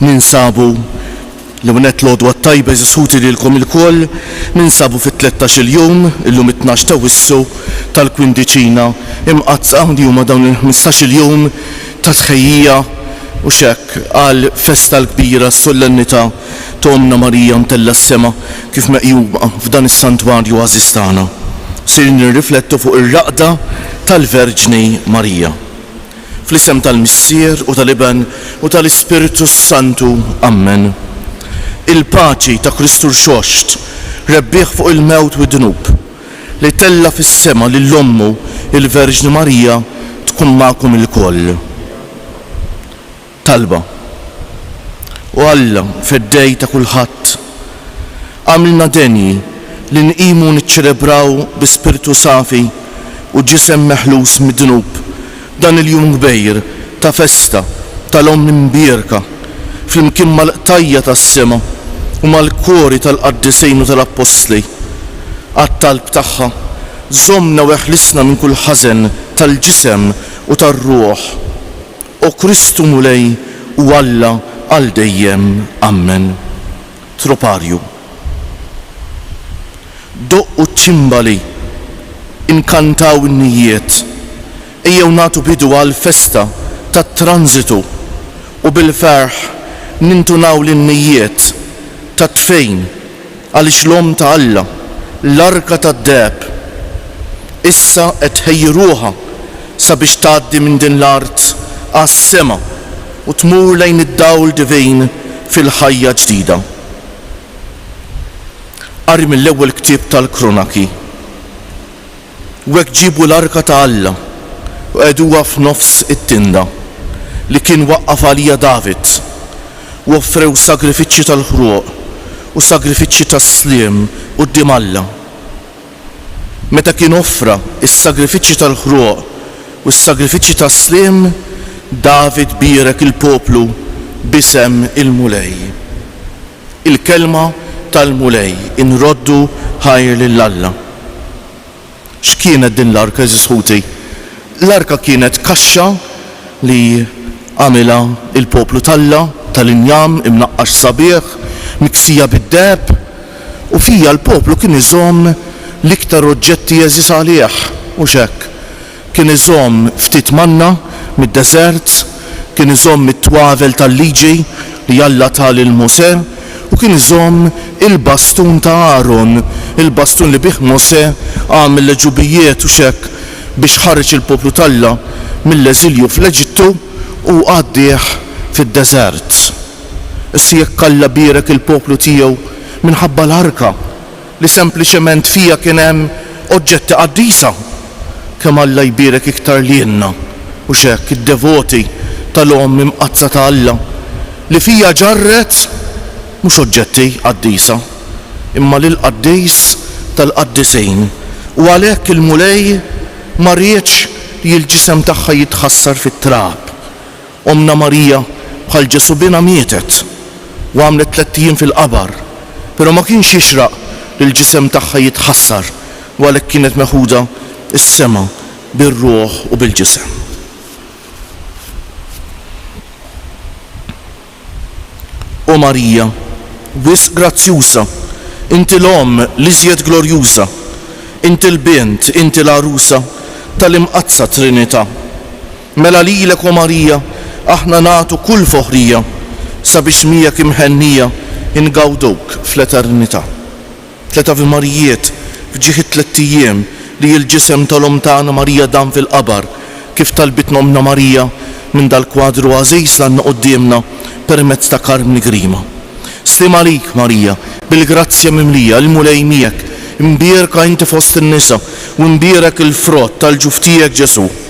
Ninsabu, l-ewwel nett l-għodwa t-tajba għeżież ħuti lilkom ilkoll, ninsabu fit-tlettax-il jum, illum it-tnax ta' Wissu, tal-Kwindiċina Imqaddsa, li huma dawn il-ħmistax-il jum ta' tħejjija, u x'hekk, għall-festa l-kbira, s-sollennità ta' Ommna Marija mtellgħa s-sema kif meqjuma f'dan is-Santwarju għażiż tagħna. Ser nirriflettu fuq ir-raqda tal-Verġni Marija. Fl-isem tal-Missier u tal-Iben u tal-Ispirtu s-Santu, ammen. Il-paċi ta' Kristu Rxoxt, rebbieħ fuq il-mewt u d-dnub, li tella' fis-sema lil ommu il-Verġni Marija tkun magħkom ilkoll. Talba, O Alla, Feddej ta' kulħadd, agħmilna denji li nqimu niċċelebraw bi spirtu safi u ġisem meħlus mid-dnub dan il-jum kbir ta' festa tal-Omm imbierka flimkien mal-qtajja' tas-sema u mal-kori tal-Qaddisin u tal-Appostli. Għat-talb tagħha, żommna u eħlisna minn kull ħażen tal-ġisem u tar-ruħ. O Kristu Mulej u Alla għal dejjem. Ammen. Troparju. Doqqu ċ-ċimbali, inkantaw in-nijjiet, ejjew nagħtu bidu għall-festa tat-Transitu u bil-ferħ nintunaw lin-nijjiet tat-tfejn Għaliex l-Omm ta' Alla, l-Arka tad-Deheb, issa qed tħejji ruħha sabiex tgħaddi minn din l-art għas-sema u tmur lejn id-dawl divin fil-ħajja ġdida? Qari mill-Ewwel Ktieb tal-Krunaki. U hekk ġiebu l-arka ta' Alla u qegħduha f'nofs it-tinda li kien waqqaf għaliha David, u offrew sagrifiċċji tal-ħruq u sagrifiċċji tas-sliem quddiem Alla. Meta kien offra s-sagrifiċċji tal-ħruq u s-sagrifiċċji tas-sliem, David bierek il-poplu b'isem il-Mulej. Il-kelma tal-Mulej, Inroddu ħajr lil Alla. X'kienet din l-arka, għeżież ħuti? L-arka kienet kaxxa li għamilha l-poplu t'Alla, tal-injam imnaqqax sabiħ, miksija bid-deheb, u fiha l-poplu kien iżomm l-iktar oġġetti għeżież għalih, hux hekk? Kien iżomm ftit manna mid-deżert, kien iżomm it-twavel tal-Liġi li Alla ta lil Mosè, u kien iżomm il-bastun ta' Aron, il-bastun li bih Mosè għamel l-għeġubijiet u xekk biex ħareġ il-poplu t'Alla mill-eżilju fl-Eġittu u għaddieh fid-deżert. Issa jekk Alla bierek il-poplu tiegħu minħabba l-arka, li sempliċement fiha kien hemm oġġetti qaddisa. Kemm Alla jbierek iktar lilna, hux hekk, id-devoti tal-Omm Imqaddsa ta' Alla, li fiha ġarret mhux oġġetti qaddisa, imma lill-Qaddis tal-Qaddisin, u għalhekk il-Mulej ma riedx li l-ġisem tagħha jitħassar fit-trab. Ommna Marija bħal Ġesù binha mietet u għamlet tlett ijiem fil-qabar, però ma kienx jixraq li l-ġisem tagħha jitħassar u għalhekk kienet meħuda s-sema bir-ruħ u bil-ġisem. O Marija, wisq grazzjuża, inti l-Omm l-iżjed glorjuża, inti l-Bint, inti l-Għarusa tal-Imqaddsa Trinità. Mela lilek, O Marija, aħna nagħtu kull foħrija, sabiex miegħek imħennija ngawduk fl-eternità. Tliet Avi Marijiet f'ġieħ it-tlett ijiem li il-ġisem tal-Omm tagħna Marija dam fil-qabar, kif talbitna Ommna Marija minn dal-kwadru għażiż l-għandna quddiemna permezz ta' Karmni Grima. Sliem għalik, Marija, bil-grazzja mimlija, il-Mulej miegħek, imbierka inti fost in-nisa, u imbierek il-frott tal-ġuf tiegħek Ġesù.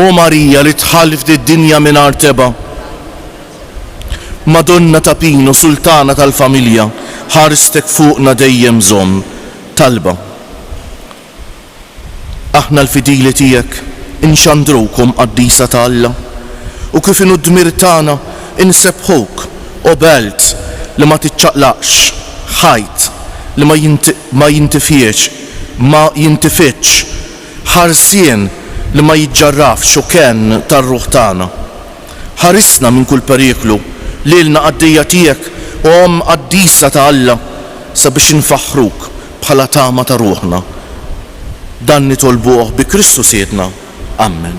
O Marija li dħalt f'did-dinja mingħajr tebgħa, Madonna ta' Pino, Sultana tal-Familja, ħarstek fuqna dejjem żomm. Talba. Aħna l-fidili tiegħek inxandruwkom Qaddisa ta' Alla, u kif inhu d-dmir tagħna insebbħuk, O Belt li ma tiċċaqlaqx, Ħajt li ma jintifiex, ma jintifidx, Ħarsien li ma jiġġarrafx hu kenn tar-ruħ tagħna. Ħarisna minn kull periklu, lilna qaddejja tiegħek u Omm qaddisa ta' Alla, sabiex infaħħruk bħala tama ta' ruħna. Dan nitolbuh bi Kristu Sidna. Ammen.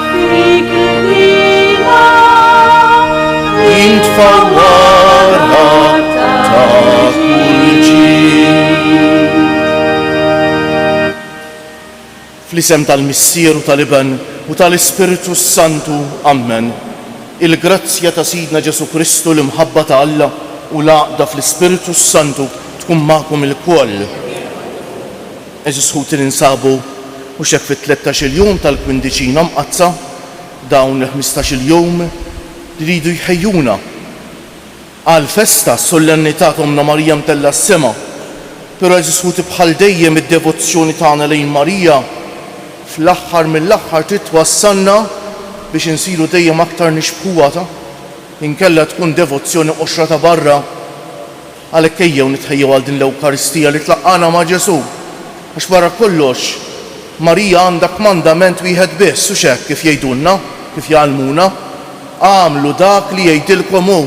Fl-isem tal-Missier u tal-Iben u tal-Ispirtu s-Santu, ammen. Il-grazzja ta' Sidna Ġesù Kristu, l-imħabba ta' Alla, u l-għaqda fl-Ispirtu s-Santu tkun magħkom ilkoll. Għeżież ħuti li nsabu mhux hekk fit-tlettax-il jum tal-Kwindiċina Mqaddsa, dawn il-ħmistax-il jum li jridu jħejjuna għall-festa, s-Sollennità ta' Ommna Marija Mtellgħa s-Sema. Però għeżież ħuti bħal dejjem id-devozzjoni tagħna lejn Marija fl-aħħar mill-aħħar trid twassalna biex insiru dejjem aktar nixbħuha, inkella tkun devozzjoni qoxra ta' barra. Għalhekk ejjew nitħejjew għal din l-Ewkaristija li tlaqqagħna ma' Ġesù. Għax barra kollox, Marija għandha kmandament wieħed biss, hux hekk kif jgħidulna, kif jgħallmuna? Agħmlu dak li jgħidilkom hu,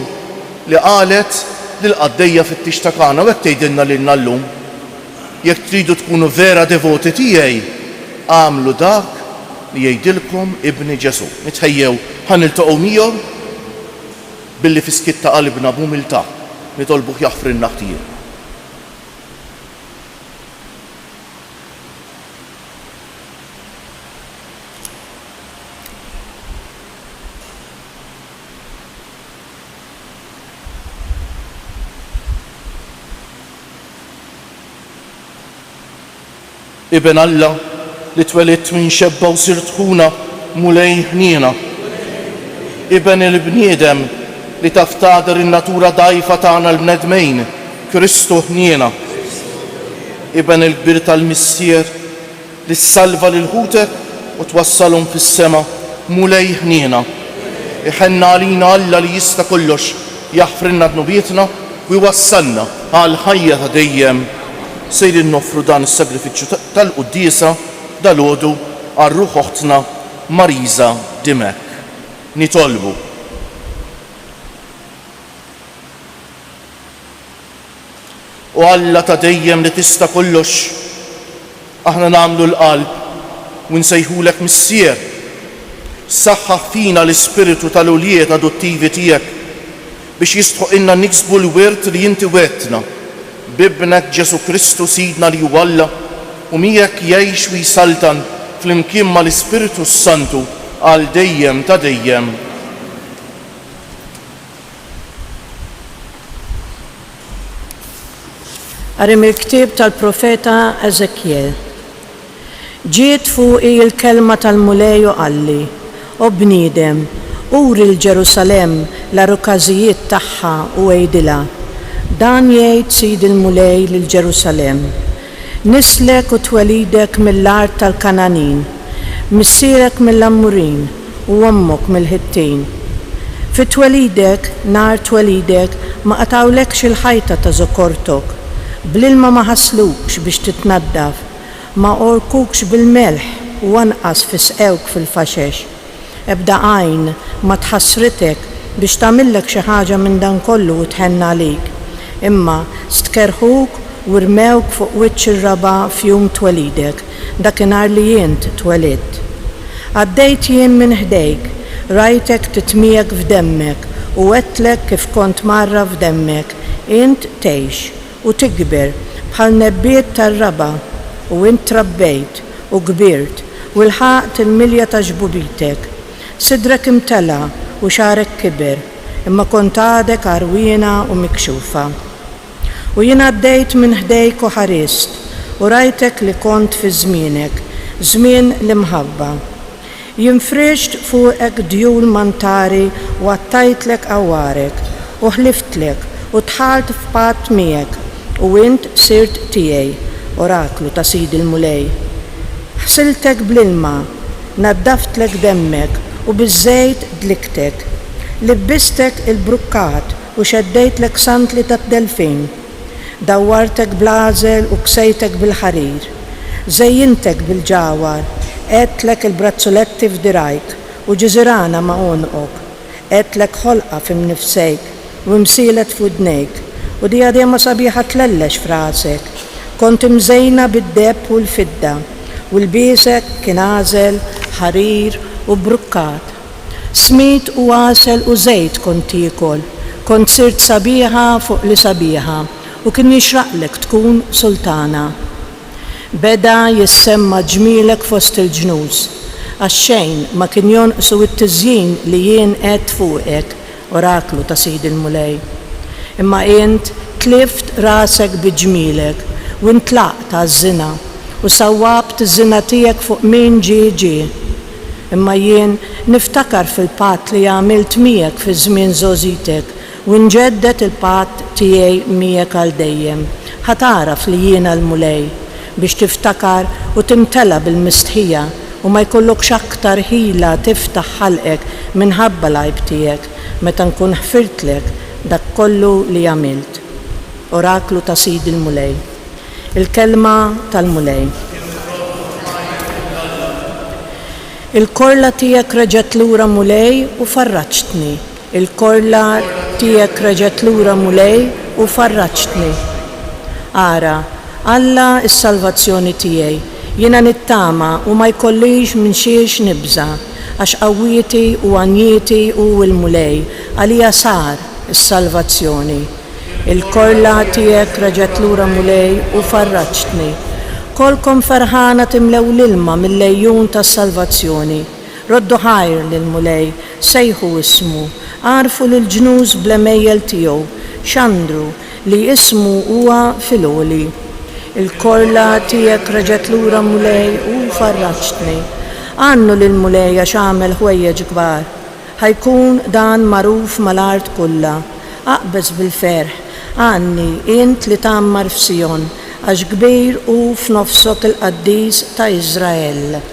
li qalet lill-qaddejja fit-tix ta' Kana u hekk tgħidilna lilna llum. Jekk tridu tkunu vera devoti tiegħi, agħmlu dak li jgħidilkom Ibni Ġesù. Nitħejjew ħa niltaqgħu miegħu? Billi fi skiet ta' qalbna b'umiltà nitolbuh jaħfrilna ħtijie. Iben Alla, li twelidt minn xebba u sirt ħuna, Mulej, ħniena. Iben il-bniedem, li taf tagħder in-natura dgħajfa tagħna l-bnedmejn, Kristu, ħniena. Iben il-kbir tal-Missier, li ssalva lil ħutek u twassalhom fis-sema, Mulej, ħniena. Iħenn għalina Alla li jista' kollox, Jaħfrilna dnubietna u jwassalna għal ħajja ta' dejjem, sejrin noffru dan is-sagrifiċċju tal-Quddiesa dalgħodu għal ruħ oħtna Marisa Dimech. Nitolbu. O Alla ta' dejjem li tista' kollox, aħna nagħmlu l-qalb u nsejħulek Missier. Saħħaħ fina l-ispirtu tal-ulied adottivi tiegħek biex jistħoqilna niksbu l-wirt li inti wegħdtna, b'Ibnek Ġesù Kristu Sidna li hu Alla u miegħek jgħix u jsaltan flimkien mal-Ispirtu s-Santu għal dejjem ta' dejjem. Qari mill-ktieb tal-profeta Eżekjel. Ġiet fuqi l-kelma tal-Mulej u qalli, O bniedem, uri 'l Ġerusalemm l-għarukażijiet tagħha u għidilha, 'Dan jgħid Sidi l-Mulej lil Ġerusalemm, Nislek u twelidek mill-art tal-Kangħanin, missierek mill-Ammurin u ommok mill-Ħittin. Fi twelidek, nhar twelidek, ma qatgħulekx il-ħajta ta' żokortok, bl-ilma ma ħasslukx biex titnaddaf, ma għorkukx bil-melħ u anqas fi sqewk fil-faxex. Ebda għajn ma tħassritek biex tagħmillek xi ħaġa minn dan kollu u tħenn għalik. Imma stkerrħuk u rmewk fuq wiċċ ir-raba' f'jum twelidek, dakinhar li int twelidt. Għaddejt jien minn ħdejk, rajtek titmiegħek f'demmek u għedtlek kif kont mgħarraf f'demmek, int tgħix. u tikber bħal nebbiet tar-raba', u int trabbejt, u kbirt, u lħaqt il-milja ta' ġbubitek. Sidrek imtela' u xagħrek kiber, imma kont għadek għarwiena u mikxufa. U jien għaddejt minn ħdejk u ħarist, u rajtek li kont fi żmienek, żmien l-imħabba. Jien frixt fuqek djul mantari u qattajtlek għawarek, u ħliftlek, u dħalt f'patt miegħek, u int sirt tiegħi, oraklu ta' Sidi l-Mulej. Ħsiltek bl-ilma, naddaftlek demmek, u biż-żejt dliktek. Libbistek il-brukkat u xeddejtlek sandli tad-delfin. Dawwartek bl-għażel u ksejtek bil-ħarir. Żejjintek bil-ġawhar, għedtlek il-brazzuletti f'dirgħajk u ġiżirana ma' għonqok. Għedtlek ħolqa f'imnifsejk u imsielet f'widnejk u dijadema sabiħa tlellex f'rasek. Kont imżejna bid-deheb u l-fidda u lbiesek kien għażel, ħarir u brukkat. Smid u għasel u żejt kont tiekol, kont sirt sabiħa fuq li sabiħa u kien jixraqlek tkun sultana. Beda jissemma ġmielek fost il-ġnus, għax xejn ma kien jonqsu t-tiżjin li jien għedt fuqek Oraklu ta' Sidi l-Mulej. Imma int tlift rasek bi ġmielek, u intlaqt għaż-żina, u sawwabt iż-żina tiegħek fuq min ġie ġie. Imma jien niftakar fil-patt li għamilt miegħek fi żmien żgħożitek, u nġedded il-patt tiegħi miegħek għal dejjem, ħa tagħraf li jiena l-Mulej, biex tiftakar u timtela bil-mistħija u ma jkollokx aktar ħila tiftaħ ħalqek minħabba l-għajb tiegħek meta nkun ħfirtlek dak kollu li għamilt. Oraklu ta' Sidi l-Mulej. Il-Kelma tal-Mulej. Kemm irrodd u nħajjar lil Alla! Il-korla tiegħek reġgħet lura Mulej u farraġtni. Il-korla tiegħek reġgħet lura Mulej u farraġtni. Ara, Alla s-salvazzjoni tiegħi, jiena nittama u ma jkollix minn xiex nibża', għax qawwieti u għanjieti hu l-Mulej, għalija sar is-salvazzjoni. Il-korla tiegħek reġgħet lura Mulej u farraġtni. Kolkom ferħana timlew l-ilma mill-għejun tas-salvazzjoni. Roddu ħajr lill-Mulej, Sejħu ismu, għarrfu lill-ġnus bl-għemejjel tiegħu, xandru li ismu huwa fil-għoli. Il-korla tiegħek reġgħet lura Mulej u farraġtni. Għannu lill-Mulej għax għamel ħwejjeġ kbar. Ħa jkun dan magħruf mal-art kullha. Aqbeż bil-ferħ, għanni, int li tgħammar f'Sijon, għax kbir hu f'nofsok il-Qaddis ta' Iżrael.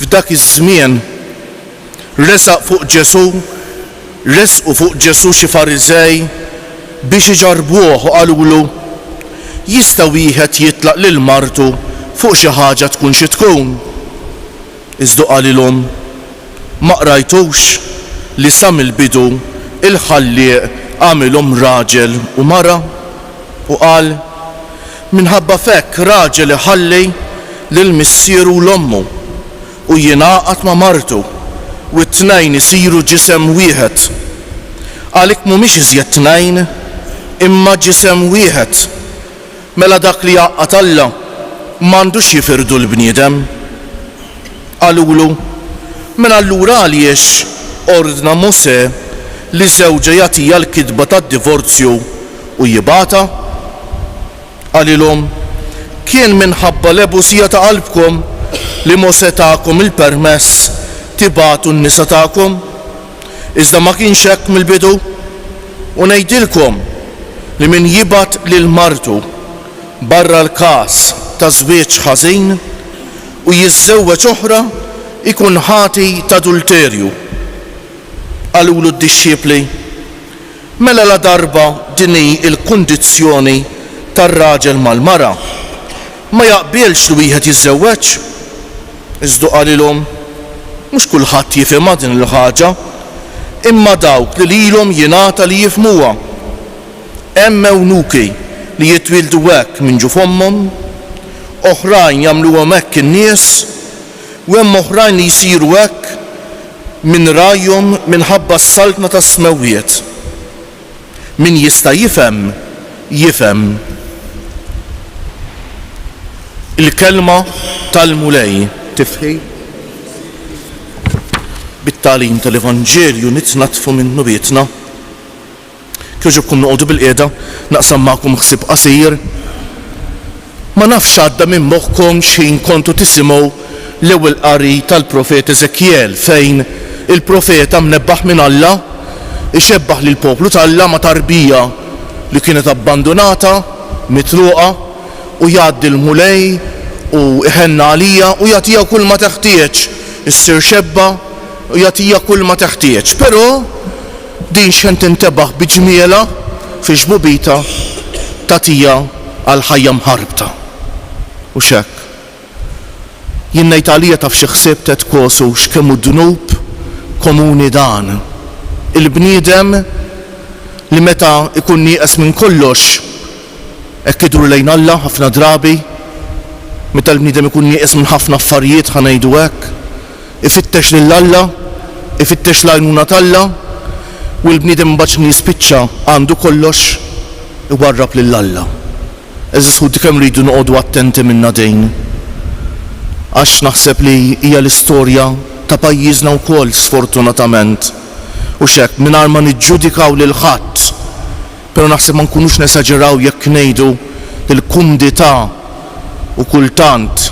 F'dak iż-żmien, resaq fuq Ġesù, resqu fuq Ġesù xi Fariżej biex iġarrbuh u qalulu, Jista' wieħed jitlaq lil martu fuq xi ħaġa tkun xi tkun? Iżda hu qalilhom, Ma qrajtux li sa mill-bidu l-Ħallieq għamilhom raġel u mara? U qal, Minħabba f'hekk raġel iħalli lil missieru u 'l ommu, u jingħaqad ma' martu, u t-tnejn isiru ġisem wieħed. Għalik m'humiex iżjed tnejn, imma ġisem wieħed. Mela dak li jgħaqqad Alla, m'għandux jifirdu l-bniedem. Qalulu, Mela allura għaliex ordna Mosè li żewġa jagħtiha l-kitba tad-divorzju u jibgħatha? Qalilhom, Kien minħabba l-għebusija ta' qalbkom li Mosè takom il-permess tibagħtu n-nisa tagħkom, iżda ma kienx hekk mill-bidu. U ngħidilkom li min jibgħat lil martu barra l-każ ta' żwieġ ħażin u jiżżewweġ oħra jkun ħati t'adulterju. Qalulu d-dixxipli, Mela ladarba din hi l-kundizzjoni tar-raġel mal-mara, ma jaqbilx li wieħed jiżżewweġ. Iżdu qalilhom, Mhux kulħadd jifhimha din il-ħaġa, imma dawk li lilhom jingħata li jifhmuha. Hemm ewnuki li jitwieldu hekk minn ġuf ommhom, oħrajn jagħmluhom hekk in-nies, U hemm oħrajn li jsiru hekk minn ragħajhom minħabba s-saltna tas-smewwiet. Min jista' jifhem, jifhem il-kelma tal-Mulej. Tifħir bit-tagħlim tal-Evanġelju nitnaddfu minnu bietna. Kjoġobkom noqogħdu bilqiegħda, naqsam magħkom ħsieb qasir. Ma nafx għadda minn moħħkom x'ħin kontu tisimgħu l-ewwel qari tal-profeta Eżekjel fejn il-profeta mnebbaħ minn Alla ixebbah lill-poplu t'Alla ma' tarbija li kienet abbandunata, mitruqa, u jgħaddi l-Mulej u iħenna għalija u jagħtiha kull ma teħtieġ, issir xebba u jagħtiha kull ma teħtieġ. Però Din x'ħen tintebaħ bi ġmielha fi xbubitha tagħtiha għal ħajja mħarbta. Hux hekk? Jien ngħid għalija taf xi ħsieb tgħid Kosu x'kemm hu dnub komuni dan. Il-bniedem li meta jkun nieqes minn kollox hekk idur lejn Alla ħafna drabi. Meta l-bniedem ikun nieqes minn ħafna affarijiet ħa ngħidu hekk. Ifittex lil Alla, ifittex l-għajnuna t'Alla, u l-bniedem imbagħad x'inhu jispiċċa għandu kollox, iwarrab lil Alla. Għeżież ħuti kemm irridu noqogħdu attenti minnha dejn. Għax naħseb li hija l-istorja ta' pajjiżna wkoll sfortunatament. Hux hekk? Mingħajr ma niġġudikaw lil ħadd, però naħseb ma nkunux nesaġeraw jekk ngħidu li l-kumdità u kultant,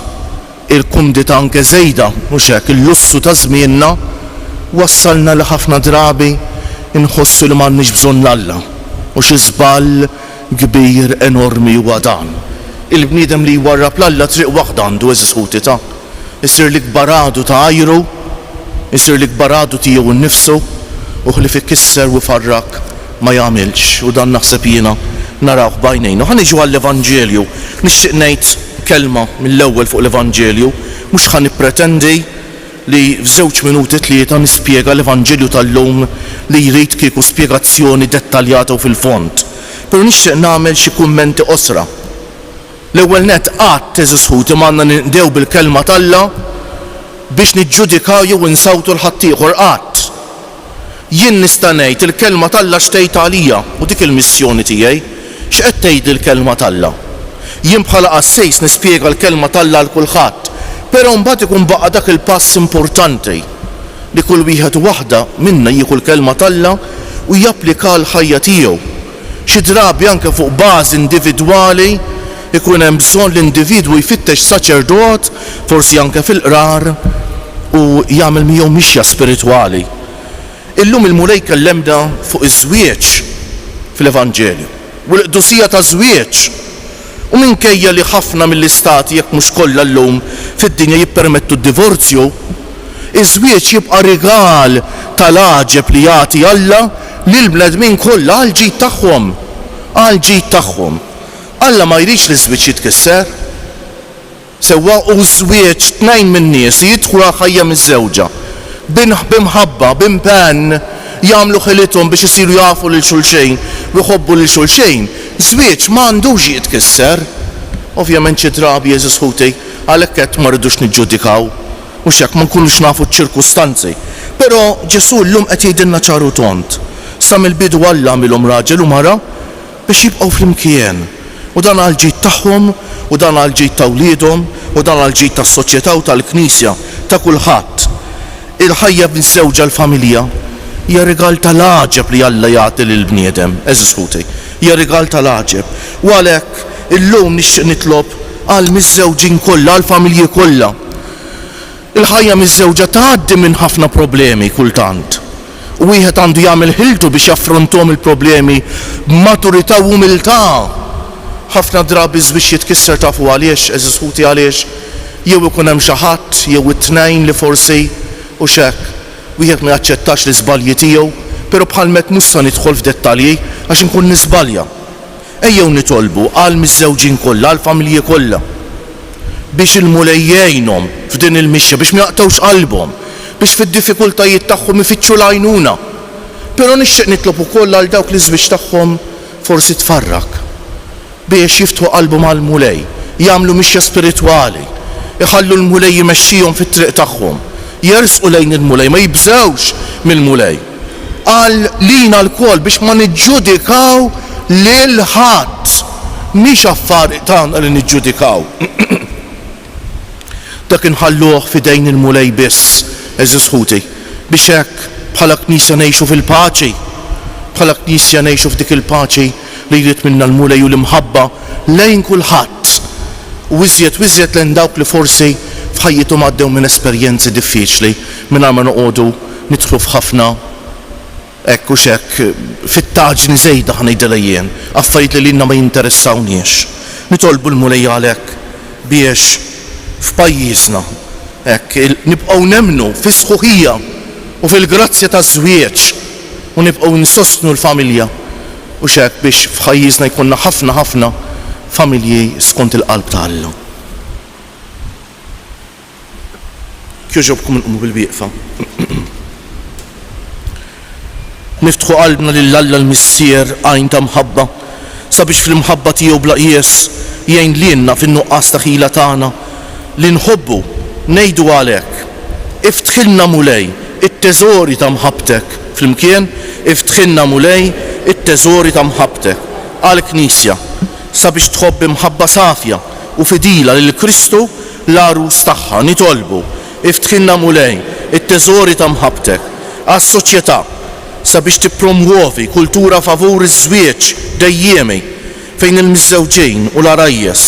Il-kumdità anke żejda, mhux hekk, il-lussu ta' żmienna wassalna li ħafna drabi nħossu li m'għandniex bżonn 'l Alla. U xi żball kbir, enormi huwa dan! Il-bniedem li jwarrab 'l Alla triq waħda għandu, għeżież ħuti, ta'. Isir l-ikbar għadu ta' għajru, isir l-ikbar għadu tiegħu nnifsu, u ħlief ikisser u jfarrak ma jagħmilx, u dan naħseb jiena narawh b'għajnejna. Ħa niġu għall-Evanġelju. Nixtieq ngħid kelma mill-ewwel fuq l-Evanġelju. Mhux ħa nippretendi li f'żewġ minuti tlieta nispjega l-Evanġelju tal-lum li jrid kieku spjegazzjoni dettaljata u fil-fond. Però nixtieq nagħmel xi kummenti qosra. L-ewwel nett, qatt, għeżież ħuti, ma għandna ninqdew bil-Kelma t'Alla biex niġġudikaw jew insawtu 'l ħaddieħor, qatt. Jien nista' ngħid, il-Kelma t'Alla x'tgħid għalija, u dik il-missjoni tiegħi. X'qed tgħidli l-Kelma t'Alla? Jien bħala qassis nispjega l-Kelma t'Alla għal kulħadd, però mbagħad ikun baqa' dak il-pass importanti, li kull wieħed u waħda minna jieħu l-Kelma t'Alla u japplikaha għall-ħajja tiegħu. Xi drabi anke fuq bażi individwali jkun hemm bżonn li individwu jfittex saċerdot, forsi anke fil-qrar, u jagħmel miegħu mixja spiritwali. Illum il-Mulej jkellemna fuq iż-żwieġ fl-Evanġelju u l-qdusija taż-żwieġ. u minkejja li ħafna mill-istati, jekk mhux kollha llum, fid-dinja jippermettu d-divorzju, iż-żwieġ jibqa' rigal tal-għaġeb li jagħti Alla lill-bnedmin kollha għall-ġid tagħhom. Għall-ġid tagħhom. Alla ma jridx li ż-żwieġ jitkisser. Sewwa hu ż-żwieġ tnejn min-nies li jidħlu għall-ħajja miżżewġa b'imħabba, b'impenn, jagħmlu ħilithom biex isiru jafu lil xulxejn u jħobbu lil xulxejn. Żwieġ ma għandux jitkisser. Ovvjament xi drabi, għeżież ħuti, għalhekk għedt ma rridux niġġudikaw, mhux hekk, ma nkunux nafu ċ-ċirkustanzi. Però Ġesù llum qed jgħidilna ċar u tond, Sa mill-bidu Alla għamilhom raġel u mara. biex jibqgħu flimkien, u dan għall-ġid tagħhom, u dan għall-ġid ta' wliedhom, u dan għall-ġid tas-soċjetà u tal-Knisja, ta' kulħadd. Il-ħajja miżżewġa, l-familja, hija rigal ta' l-għaġeb li Alla jagħti lill-bniedem, għeżież ħuti. Hija rigal ta' l-għaġeb. U għalhekk, illum nixtieq nitlob għall-miżżewġin kollha, għall-familji kollha, Il-ħajja miżżewġa tgħaddi minn ħafna problemi kultant, u wieħed għandu jagħmel ħiltu biex jaffrontom il-problemi b'maturità u umiltà. Ħafna drabi ż-żwieġ jitkisser tafu għaliex, għeżież ħuti għaliex? Jew ikun hemm xi ħadd jew it-tnejn li forsi, u x'hekk, wieħed ma jaċċettax l-iżbalji tiegħu, però bħalm'hekk mhux sa nidħol f'dettalji għax inkun niżbalja. Ejjew nitolbu għall-miżżewġin kollha, għall-familji kollha, biex il-Mulej jgħinhom f'din il-mixja, biex ma jaqtgħux qalbhom, biex fid-diffikultajiet tagħhom ifittxu l-għajnuna. Però nixtieq nitlob ukoll għal dawk li ż-żwieġ tagħhom forsi tfarrak, biex jiftħu qalbhom għall-Mulej, jagħmlu mixja spiritwali, iħallu l-Mulej imexxihom fit-triq tagħhom, jersqu lejn il-Mulej, ma jibżgħux mill-Mulej. Qal lina lkoll biex ma niġġudikaw lil ħadd. Mhix affar tagħna li niġġudikaw. Dak inħalluh f'idejn il-Mulej biss, għeżież ħuti, biex hekk, bħala Knisja ngħixu fil-paċi. Bħala Knisja ngħixu f'dik il-paċi li jrid minna l-Mulej u l-imħabba lejn kulħadd, u iżjed u iżjed lejn dawk li forsi f'ħajjithom għaddew minn esperjenzi diffiċli, mingħajr ma noqogħdu Nidħlu f'ħafna hekk u x'hekk, fittaġni żejda ħa ngħidilha jien, affarijiet li lilna ma jinteressawniex. Nitolbu l-Mulej għalhekk biex f'pajjiżna hekk nibqgħu nemmnu fis-sħuħija u fil-grazzja taż-żwieġ u nibqgħu nsostnu l-familja u x'hekk biex f'ħajjiżna jkollna ħafna ħafna familji skont il-qalb ta' Alla. Kjoġobkom inqumu bil-wieqfa. Niftħu qalbna lil Alla l-Missier għajn ta' mħabba, sabiex fl-imħabba tiegħu bla qjies jgħin lilna fin-nuqqas ta' ħila tagħna li nħobbu, ngħidu għalhekk, Iftħilna Mulej it-teżori ta' mħabbtek, flimkien, Iftħilna Mulej it-teżori ta' mħabbtek, għall-Knisja. Sabiex tħobb bi mħabba safja u fidila lil Kristu, l-Għarus tagħha, nitolbu, Iftħilna, Mulej, it-teżori ta' mħabbtek. Għas-soċjetà, sabiex tippromwovi kultura favur iż-żwieġ dejjiemi, fejn il-miżżewġin u l-għarajjes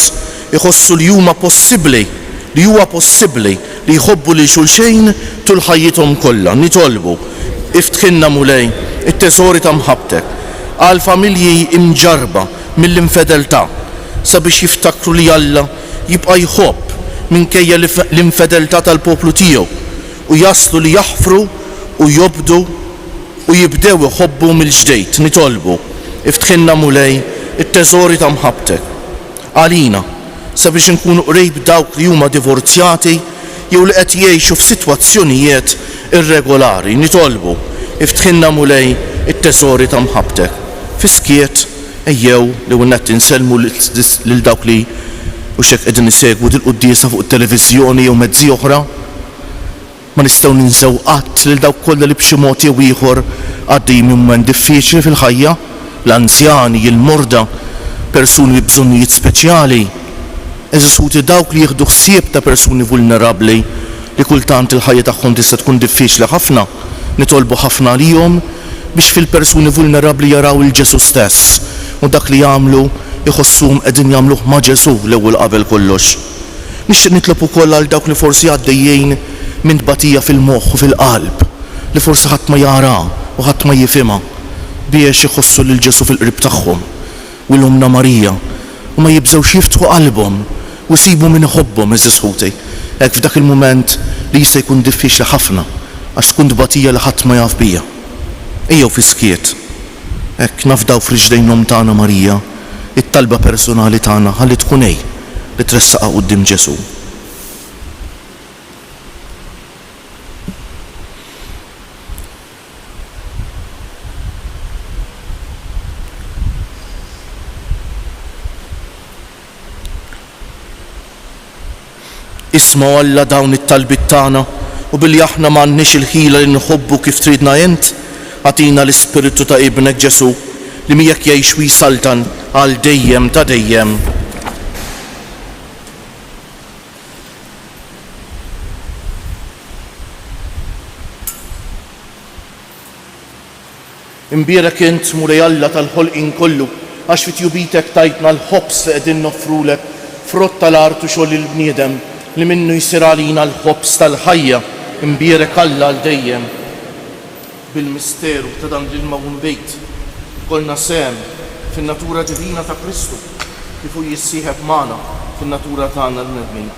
iħossu li huma possibbli, li huwa possibbli li jħobbu lil xulxejn tul ħajjithom kollha, nitolbu, Iftħilna, Mulej, it-teżori ta' mħabbtek. Għall-familji mġarrba, mill-infedeltà sabiex jiftakru li Alla jibqa' jħobb minkejja l-infedeltà tal-poplu tiegħu u jaslu li jaħfru u jobdu u jibdew iħobbu mill-ġdejt. Nitolbu, Iftħilna, Mulej, it-teżori ta' mħabbtek għalina. sabiex inkunu qrib dawk li huma divorzjati jew li qed jgħixu f'sitwazzjonijiet irregolari, nitolbu, Iftħilna Mulej it-teżori ta' mħabbtek. Fis-skiet, ejjew l-ewwel nett insellmu lil dawk li hux hekk qegħdin isegwu dil-quddiesa fuq it-televiżjoni jew mezzi oħra. Ma nistgħu ninsew qatt lil dawk kollha li b'xi mod jew ieħor għaddejjin minn mument diffiċli fil-ħajja, l-anzjani, il-morda, persuni bi bżonnijiet speċjali. Għeżież ħuti dawk li jieħdu ħsieb ta' persuni vulnerabbli li kultant il-ħajja tagħhom tista' tkun diffiċli ħafna, nitolbu ħafna għalihom biex fil-persuni vulnerabbli jaraw 'il Ġesù stess u dak li jagħmlu jħossuhom qegħdin jagħmluh ma' Ġesù l-ewwel qabel kollox. Nixtieq nitlob ukoll għal dawk li forsi għaddejjin minn tbatija fil-moħħ u fil-qalb li forsi ħadd ma jara u ħadd ma jifhimha biex iħossu lil Ġesù fil-qrib tagħhom u 'l Ommna Marija u ma jibżgħux jiftħu qalbhom u jsibu min iħobbhom, għeżież ħuti, hekk f'dak il-mument li jista' jkun diffiċli ħafna għax tkun tbatija li ħadd ma jaf bija. Ejjew fis-skiet hekk nafdaw f'riġlejn l-Omm tagħna Marija t-talba persunali tagħna ħalli tkun hi li tressaqha quddiem Ġesù. Isma' Alla dawn it-talbiet tagħna u billi aħna m'għandniex il-ħila li nħobbu kif tridna int, Agħtina l-Ispirtu ta' Ibnek Ġesù li miegħek jgħix u jsaltan għal dejjem ta' dejjem. Imbierek int, Mulej Alla tal-ħolqien kollu, għax fi tjubitek tajtna l-ħobż li qegħdin noffrulek, frott tal-art u xogħol il-bniedem, li minnu jsir għalina l-ħobż tal-ħajja. Imbierek Alla għal dejjem. Bil-misteru ta' dan l-ilma u nbid, ikollna sehem fin-natura divina ta' Kristu, kif hu jissieħeb magħna fin-natura tagħna l-bnedmin.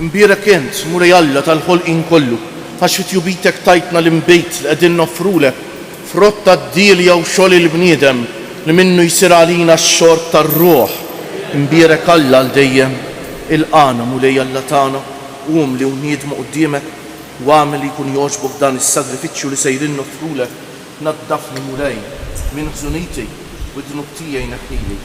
Imbierek int, Mulej Alla tal-ħolqien kollu, għax fi tjubitek tajtna l-inbid li qegħdin noffrulek, frott tad-dielja u xogħol il-bniedem, li minnu jsir għalina x-xorb tar-ruħ. Imbierek Alla għal dejjem. Ilqagħna, Mulej Alla tagħna. Qum li wniedmu quddiemek u agħmel li jkun jogħġbok dan is-sagrifiċċju li sejrin noffrulek, naddafni, Mulej, minn ħżuniti u d-dnub tiegħi neħħili.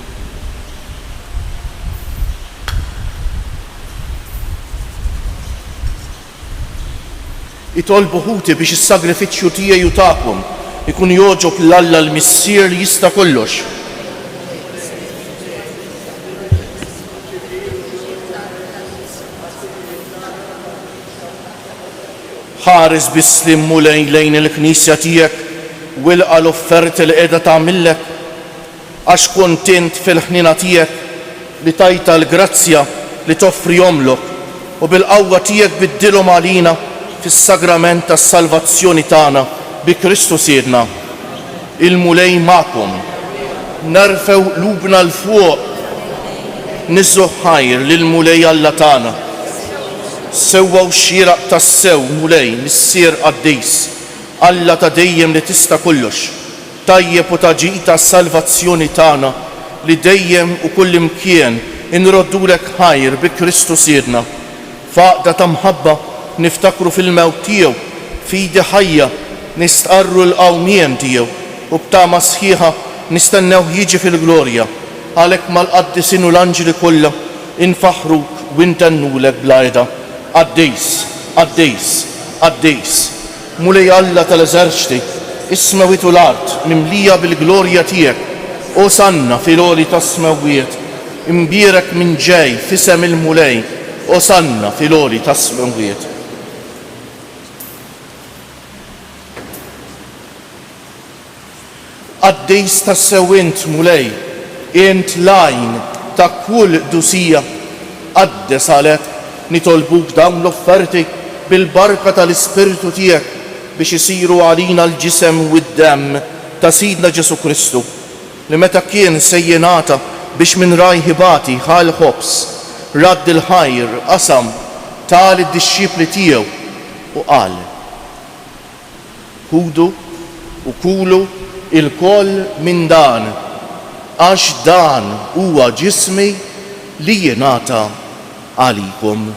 Itolbu ħuti biex is-sagrifiċċju tiegħi u tagħkom ikun jogħġob 'l Alla l-Missier li jista' kollox. Ħares bis-sliem Mulej lejn il-Knisja tiegħek u ilqa' l-offerti li qiegħda tagħmillek, għax kont int fil-ħniena tiegħek li tajtha l-grazzja li toffrihomlok u bil-qawwa tiegħek biddilhom għalina fis-sagrament tas-salvazzjoni tagħna bi Kristu Sidna. Il-Mulej magħkom. Nerfgħu qlubna 'l fuq nigħżu ħajr lill-Mulej Alla tagħna. Sewwa u xieraq tassew, Mulej, Missier qaddis, Alla ta' dejjem li tista' kollox, tajjeb u ta' ġita s-salvazzjoni tagħna li dejjem u kullimkien inroddulek ħajr bi Kristu Sidna. F'għaqda ta' mħabba niftakru fil-mewt tiegħu, f'idi ħajja nistqarru l-qawmiem tiegħu u b'tama sħiħa nistennewh jiġi fil-glorja. Għalhekk mal-qaddisin u l-anġli kollha infaħħruk u ntennulek bla heda, Qaddis, Qaddis, Qaddis. Mulej Alla tal-eżerċti, is-smewwiet u l-art mimlija bil-glorja tiegħek, Osanna fil-għoli tas-smewwiet, imbierek min ġej f'isem il-Mulej, Osanna fil-għoli tas-smewwiet. Qaddis tassew int, Mulej, int l-għajn ta' kull qdusija. Qaddes għalhekk nitolbuk dawn l-offerti bil-barka tal-Ispirtu tiegħek biex isiru għalina l-ġisem u d-demm ta' Sidna Ġesù Kristu, li meta kien se jingħata biex minn rajh ibati, ħa l-ħobż, radd il-ħajr, qasam, ta lid-dixxipli tiegħu u qal. Ħudu u kulu ilkoll minn dan, għax dan huwa ġismi li jingħata għalikom.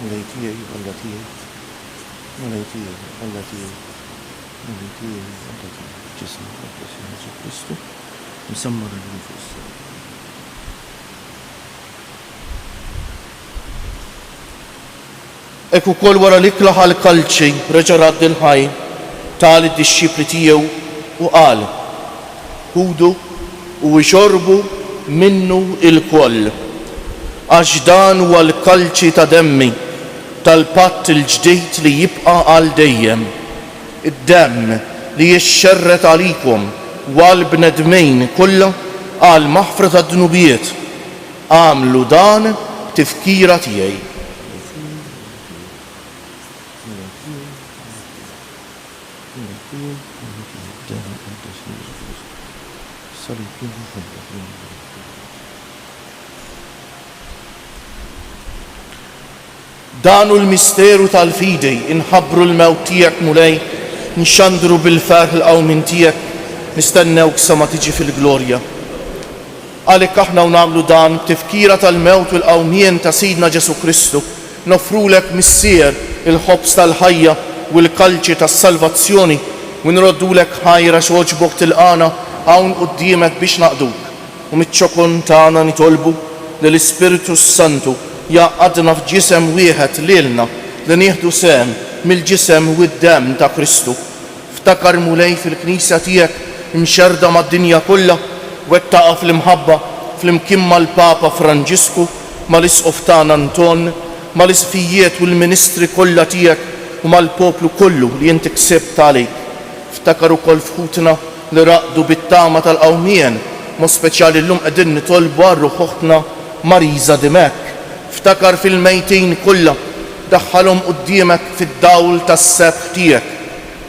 Mulej tiegħi, Alla tiegħi, Mulej tiegħi, Alla tiegħi, Mulej tiegħi, Alla tiegħi. Ġisem Muqaddes ta' Ġesù Kristu, msemma' għal-jum fuq is-salib. Hekk ukoll wara li klaħa l-kalċi reġa' radd il-ħajr, ta lid-dixxipli tiegħu u qal, Ħudu u ixorbu minnu ilkoll, għax dan huwa l-kalċi ta' demmi tal-patt il-ġdid li jibqa' għal dejjem, id-demm li jixxerred għalikom u għall-bnedmin kollha għall-maħfra tad-dnubiet. Agħmlu dan b'tifkira tiegħi. Dan hu l-misteru tal-fidi, inħabbru l-mewt tiegħek, Mulej, nxandru bil-ferħ il-qawmien tiegħek, nistennewk sa ma tiġi fil-glorja. Għalik aħna u nagħmlu dan b'tifkira tal-mewt u l-qawmien ta' Sidna Ġesù Kristu, noffrulek, Missier, il-ħobż tal-ħajja u l-kalċi tas-salvazzjoni, u nroddulek ħajr għax għoġbok tilqagħna hawn quddiemek biex naqduk, u miċ-ċokon tagħna nitolbu li l-Ispirtu s-Santu jgħaqqadna f'ġisem wieħed lilna li nieħdu sehem mill-ġisem u d-demm ta' Kristu. Ftakar Mulej fil-Knisja tiegħek imxerrda mad-dinja kollha, wettaqha fl-imħabba flimkien mal-Papa Franġisku, mal-Isqof tagħna Anton, mal-Isqfijiet u l-ministri kollha tiegħek u mal-poplu kollu li inti ksibt għalik. Ftakar ukoll f'ħutna li raqdu bit-tama tal-qawmien, mod speċjali llum qegħdin nitolbu għal ruħ oħtna Marisa Dimech. Ftakar fil-mejtin kollha. Daħħalhom quddiemek fid-dawl tas-sebħ tiegħek.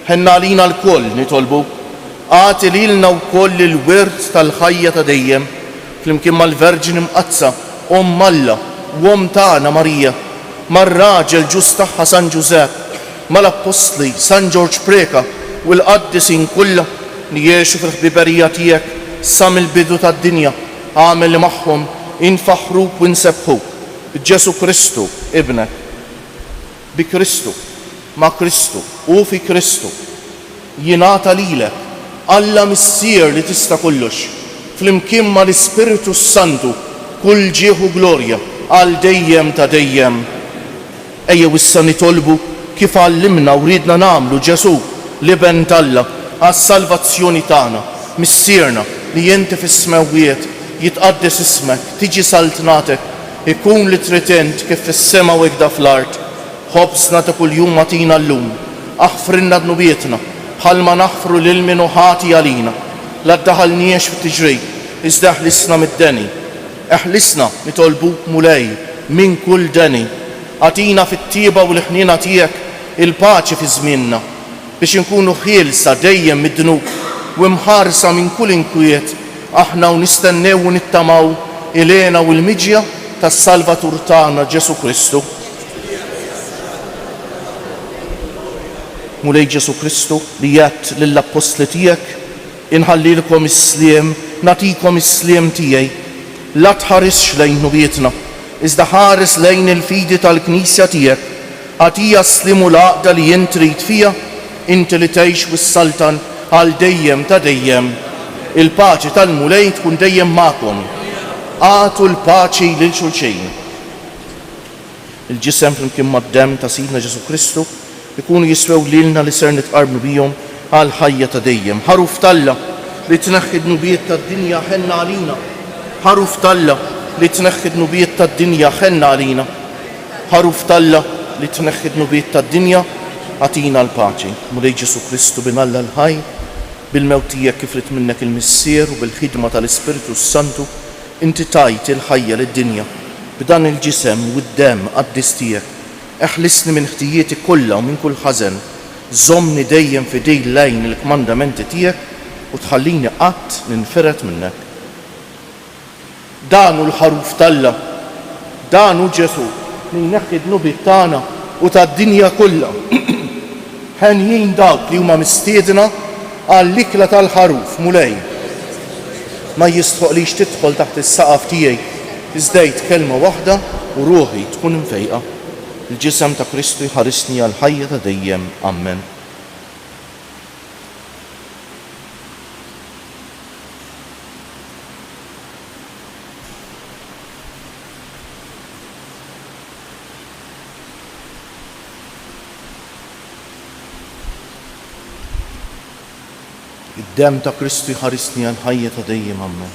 Ħenn għalina lkoll, nitolbuk. Agħti lilna wkoll il-wirt tal-ħajja ta' dejjem, flimkien mal-Verġni Mqaddsa, Omm Alla, u omm tagħna Marija, mar-raġel ġust tagħha San Ġużepp, mal-appostli, San Ġorġ Preca, u l-qaddisin kollha li għexu fil-ħbiberija tiegħek sa mill-bidu tad-dinja, agħmel li magħhom infaħħruk u nsebbħuk. B'Ġesù Kristu, Ibnek. Bi Kristu, ma' Kristu, u fi Kristu, jingħata lilek, Alla Missier li tista' kollox, flimkien mal-Ispirtu s-Santu, kull ġieħ u glorja għal dejjem ta' dejjem. Ejjew issa nitolbu, kif għallimna u riedna nagħmlu Ġesù, l-Iben t'Alla, għas-salvazzjoni tagħna, Missierna li inti fis-smewwiet, jitqaddes ismek, tiġi saltnatek, ikun li trid int kif fis-sema u ikda fl-art. Ħobżna ta' kuljum agħtina llum. Aħfrilna dnubietna, bħalma naħfru lil min hu ħati għalina. La ddaħalniex f'tiġrib, iżda ħlisna mid-deni. Eħlisna, nitolbuk Mulej, minn kull deni. Agħtina fit-tjieba u l-ħniena tiegħek il-paċi fi żmienna, biex inkunu ħielsa dejjem mid-dnub u imħarsa minn kull inkwiet aħna u nistennew u nittamaw il-hena u l-miġja tas-Salvatur tagħna Ġesù Kristu. Mulej Ġesù Kristu, li għedt lill-appostli tiegħek, Inħallilkom is-sliem, nagħtikom is-sliem tiegħi. La tħarisx lejn dnubietna, iżda ħares lejn il-fidi tal-Knisja tiegħek. Agħtiha s-sliem u l-għaqda li int trid fiha, inti li tgħix u ssaltan għal dejjem ta' dejjem. Il-paċi tal-Mulej tkun dejjem magħkom. Agħtu l-paċi lil xulxin. Il-ġisem flimkien mad-demm ta' Sidna Ġesù Kristu jkunu jiswew lilna li ser nitqarbnu bihom għal ħajja ta' dejjem. Ħaruf t'Alla li tneħħi d-dnubiet tad-dinja ħenna għalina Ħaruf t'Alla li tneħħi d-dnubiet tad-dinja ħenna għalina Ħaruf t'Alla li tneħħi d-dnubiet tad-dinja agħtina l-paċi Mulej Ġesù Kristu Bin Alla l-ħaj bil-mewt tiegħek kif ried minnek il-Missier u bil-ħidma tal-Ispirtu s-Santu Inti tajt il-ħajja lid-dinja b'dan il-ġisem u d-demm qaddis tiegħek. Eħlisni minn ħtijieti kollha u minn kull ħażen. Żommni dejjem f'idil lejn il-kmandamenti tiegħek u tħallini qatt ninfired minnek. Dan hu l-Ħaruf t'Alla. Dan hu Ġesù li jneħħi d-dnubiet tagħna u tad-dinja kollha. Henjin dawk li huma mistiedna għall-ikla tal-Ħaruf, Mulej. Ma jistħoqlix tidħol taħt is-saqaf tiegħi, iżda għid kelma waħda u ruħi tkun imfejqa. Il-Ġisem ta' Kristu jħarisni għall-ħajja ta' dejjem. Ammen. Id-demm ta' Kristu jħarisni għal ħajja ta' dejjem Ammen.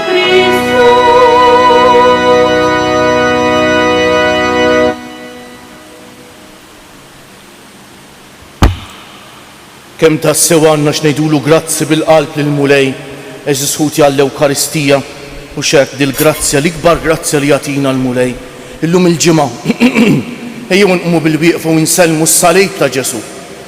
Kemm tassew għandna x'ngħidulu grazzi bil-qalb lill-Mulej, għeżież ħuti għall-Ewkaristija, mhux hekk, dil-grazzja, l-ikbar grazzja li jagħtina l-Mulej. Illum il-Ġimgħa, ejjew inqumu bilwieqfa u nsellmu s-Salib ta' Ġesù.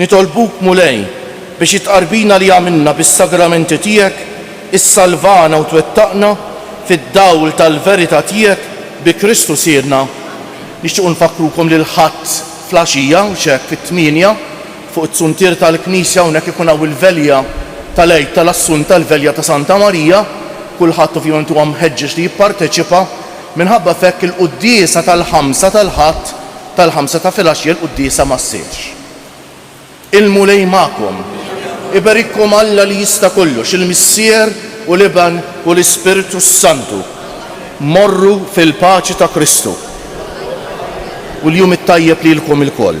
Nitolbuk, Mulej, biex it-tqarbina li għamilna bis-sagramenti tiegħek issalvana u twettaqna fid-dawl tal-verità tiegħek bi Kristu Sidna. Nixtiequ nfakkrukom li l-Ħadd flgħaxija, x'hekk fit-tmienja, fuq is-suntier tal-Knisja hawnhekk ikun hawn il-velja tal-Għid tal-Assunta, l-velja ta' Santa Marija. Kulħadd ovvjament huwa mħeġġeġ li jipparteċipa. Minħabba f'hekk il-quddiesa tal-Ħamsa tal-Ħadd, tal-ħamsa ta' filgħaxja l-quddiesa ma ssirx. Il-Mulej magħkom. Iberikkom Alla li jista' kollox, il-Missier u l-Iben u l-Ispirtu s-Santu. Morru fil-paċi ta' Kristu. U l-jum it-tajjeb lilkom ilkoll.